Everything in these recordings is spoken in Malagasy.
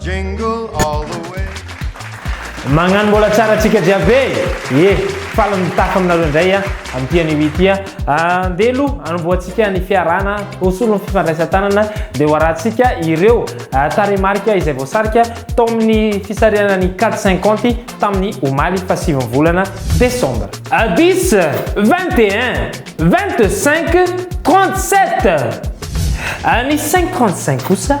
Jingle all the way. Magnano mbola tsara tsika jiaby e! Ye! Faly mitafa aminareo indray a, amin'ity anio ity a! Andeha aloha hanombohantsika ny fiarahana, ho solon'ny fifandraisan-tanana dia ho arahantsika ireo tarehimarika izay voasarika tao amin'ny fisarihana ny Cad cinquante tamin'ny omaly fahasivy ny volana desambra. Dix, vingt et un, vingt cinq, trente sept! Ny cinq trente cinq kosa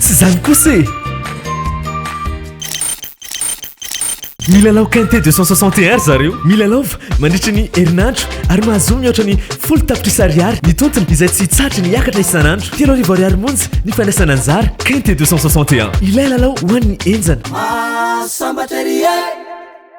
Tsy izany kosa e! Milalao quintet 260 ry zareo. Milalaova mandritra ny herinandro ary mahazoa mihoatra ny folo tapitrisa ariary ny tontiny izay tsy hitsahatra ny hiakatra isan'andro. Telo arivo ariary monja ny fandraisana anjara. Quintet 261, ilay lalao ho an'ny henjana. Maha sambatra ery e!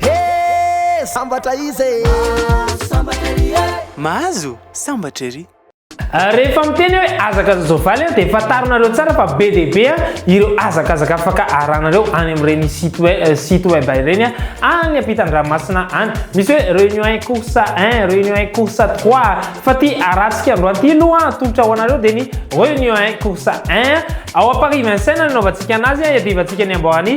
Hee sambatra iza e! Mahazo sambatra ery. Rehefa miteny aho hoe azaka ny soavaly an, dia fantarinareo tsara fa be dia be ireo hazakazaka afaka aharanareo any amin'ireny site web, site web ireny any ampitan-dranomasina any. Misy hoe réunion un cours un, réunion un cours trois. Fa ity arantsika androany ity aloha atolotra ho anareo dia ny réunion un cours un. Ao à Paris Vincennes no nanaovantsika anazy, iadivantsika ny amboaran'i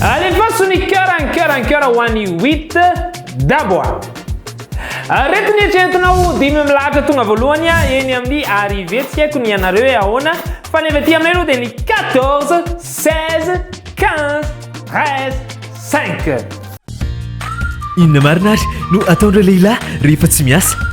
Alefaso ny cœur an cœur an cœur ho an'i Wit Dabo a. Aretina eritreretinao dimy milahatra tonga voalohany a eny amin'ny arrivée tsy haiko ny anareo hoe ahoana fa ny avy aty aminay aloha dia ny 14, 16, 15, 13, 5. Inona marina ary no ataon'ireo lehilahy rehefa tsy miasa?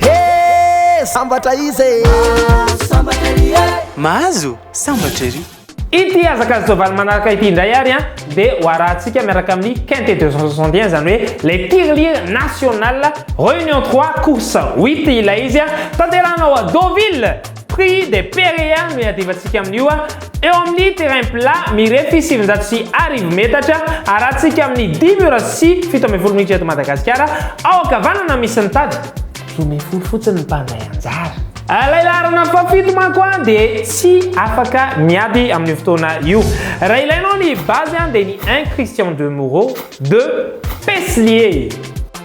Hee sambatra iza e. Sambatra ery e. Mahazo sambatra ery. Ity hazakazaka soavaly manaraka ity indray ary an dia ho arahantsika miaraka amin'ny Quinte 261 izany hoe ilay tirelire national, reunion trois, course huit ilay izy an, tanterahina ao Deauville. Prix des perea no iadivantsika amin'io a! Eo amin'ny terrain plat mirefy sivinjato sy arivo metatra, arahantsika amin'ny dimy ora sy fito ambin'ny folo minitra eto Madagasikara, ao ankavanana misy ny tady, dimy ambin'ny folo fotsiny ny mpandray anjara. Ilay laharana fahafito manko dia tsy afaka miady amin'io fotoana io. Raha ilainao ny base dia ny un Christian de Moreau, deux Peslier.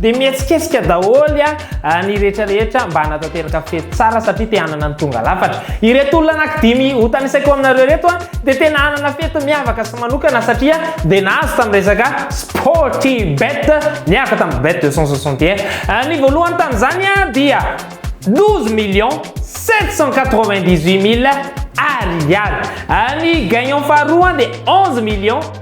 Dia mihetsiketsika daholo ny rehetra rehetra mba hanatanteraka fety tsara satria te hanana ny tonga lafatra. Ireto olona anankidimy hotanisako aminareo ireto dia tena hanana fety miavaka sy manokana satria dia nahazo tamin'ny resaka Sportybet niaraka tamin'ny Bet 261. Ny voalohany tamin'izany dia 12 millions 798 mille ariary. Ny gagnant faharoa dia 11 millions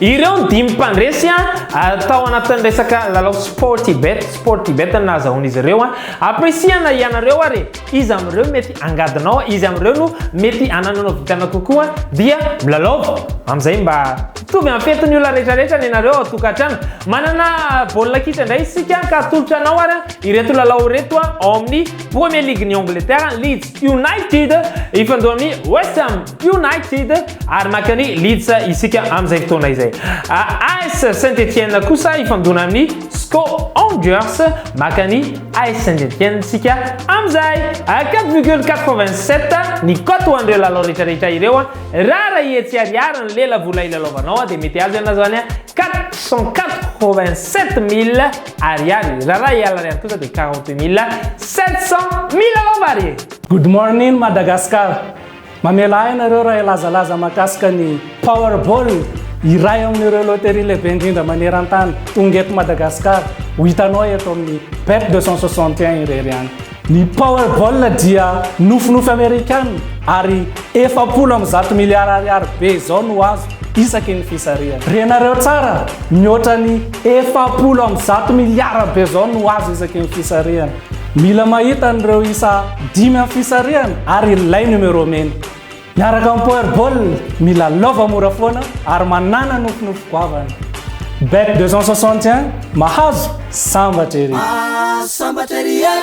Ireo ny dimy mpandresy tao anatin'ny resaka lalao Sportybet, Sportybet no nahazahoan'izy ireo. Ampirisihana ianareo ary iza amin'ireo mety hangadonao, iza amin'ireo no mety hanananao vintana kokoa dia milalaova. Amin'izay mba mitovy amin'ny fetin'ny olona rehetra rehetra ny anareo ao tokantrano. Manana baolina kitra indray isika ka atolotra anao ary ireto lalao ireto ao amin'ny Premier League-n'i Angleterre, Leeds United hifandoha amin'ny West Ham United ary mankany Leeds isika amin'izay fotoana izay. AS Saint-Etienne kosa hifandona amin'ny Sco Angers mankany AS Saint-Etienne isika amin'izay. 4,87 ny cote ho an'ireo lalao rehetrarehetra ireo. Raha raha etsy ariary ny lelavola ilalaovanao dia mety azo ianao izany 487 mille. Ariary, raha Rayal Ariary kosa dia quarante mille sept cent mille lamba Ariary. Good morning Madagascar! Mamela ahy ianareo raha hilazalaza mahakasika ny Powerball, iray amin'ireo loterie lehibe indrindra maneran-tany, tonga eto Madagascar, ho hitanao eto amin'ny Bet deux cent soixante et un irery ihany. Ny Powerball dia nofinofy Amerikana ary efapolo amby zato miliara ariary be izao no azo isaky ny fisarihana. Renareo tsara, mihoatra ny efapolo amby zato miliara be izao no azo isaky ny fisarihana. Mila mahita an'ireo isa dimy amin'ny fisarihana ary ilay numéro mena. Miaraka amin'ny Power Ball, milalaova mora foana ary manàna nofinofy goavana. Bet 261, mahazo, sambatra ery! Ah, sambatra ery e!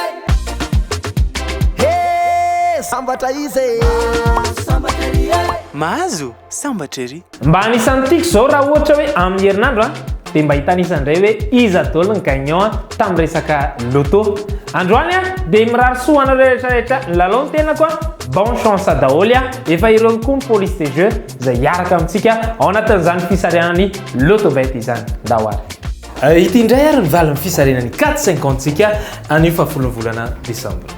Hee, sambatra iza e! Ah, sambatra ery e! Mahazo, sambatra ery! Mba anisan'ny tiako izao raha ohatra hoe amin'ny herinandro a, dia mba hitanisa indray hoe iza daholo ny gagnant tamin'ny resaka loto. Androany a, dia mirary soa ho anareo rehetra rehetra nilalao ny tenako a, bonne chance daholo a, efa ireo koa ny police de jeu izay hiaraka amintsika ao anatin'izany fisarihana ny loto bet izany ndao ary. Ity indray ary ny valin'ny fisarihana ny quatre cinquante tsika anio fahafolon'ny volana desambra.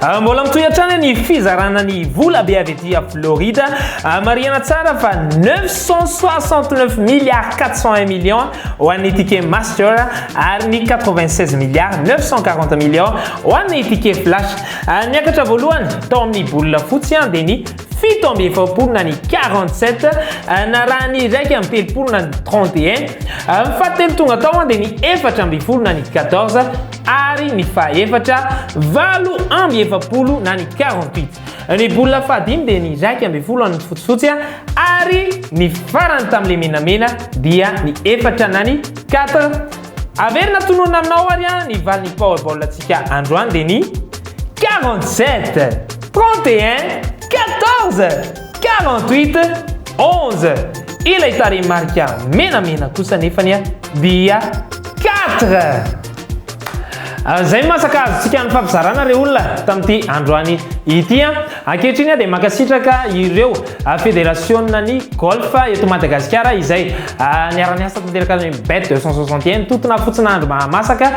Ah, mbola mitohy hatrany ny fizarana ny vola be avy aty a florida ah, marihana tsara fa 969 milliard 401 million ho an'ny ticket master ary ny 96 milliard 940 million ho an'ny ticket flash ah, niakatra voalohany tao amin'ny bola fotsy an dia ny fito amby efapolo na ny 47 euh, na raha ny iraika amby telopolo na ny 31 euh, fahatelo tonga tao an dia ny efatra amby folo na ny 14 ary ny fahefatra valo amby efapolo na ny quarante-huit. Ny bola fahadimy dia ny iraika ambin'ny folo an'ny fotsifotsy ary ny farany tamin'ilay menamena dia ny efatra na ny quatre. Averina tononina aminao ary ny valin'ny Powerball antsika androany dia ny quarante-sept, trente et un, quatorze. 48 11 ilay tarehimarika menamena kosa nefany a dia 4 izay no masaka azontsika nifampizarana re olona tamin'ity androany ity a ankehitriny a dia mankasitraka ireo federasiona ny golf eto madagasikara izay niara-niasa tanteraka ny bet 261 totona fotsina andro mahamasaka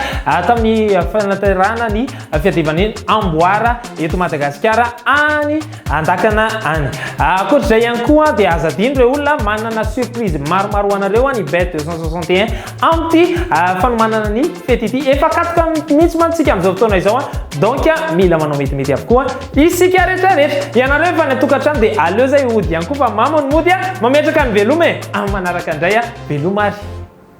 tamin'ny fanatanterahana ny fiadivan'ny amboara eto madagasikara any Andakana any. Ankoatra izay ihany koa dia aza adino ireo olona manana surprise maromaro ho anareo ny bet 261 amin'ity fanomanana ny fety ity. Efa katika mihitsy mantsy isika amin'izao fotoana izao donc mila manao metimety avokoa isika rehetra rehetra. Ianareo efa any an-tokantrano dia aleo izay hody ihany koa fa mamo ny mody a! Mametraka ny veloma e! Amin'ny manaraka indray a! Veloma ary!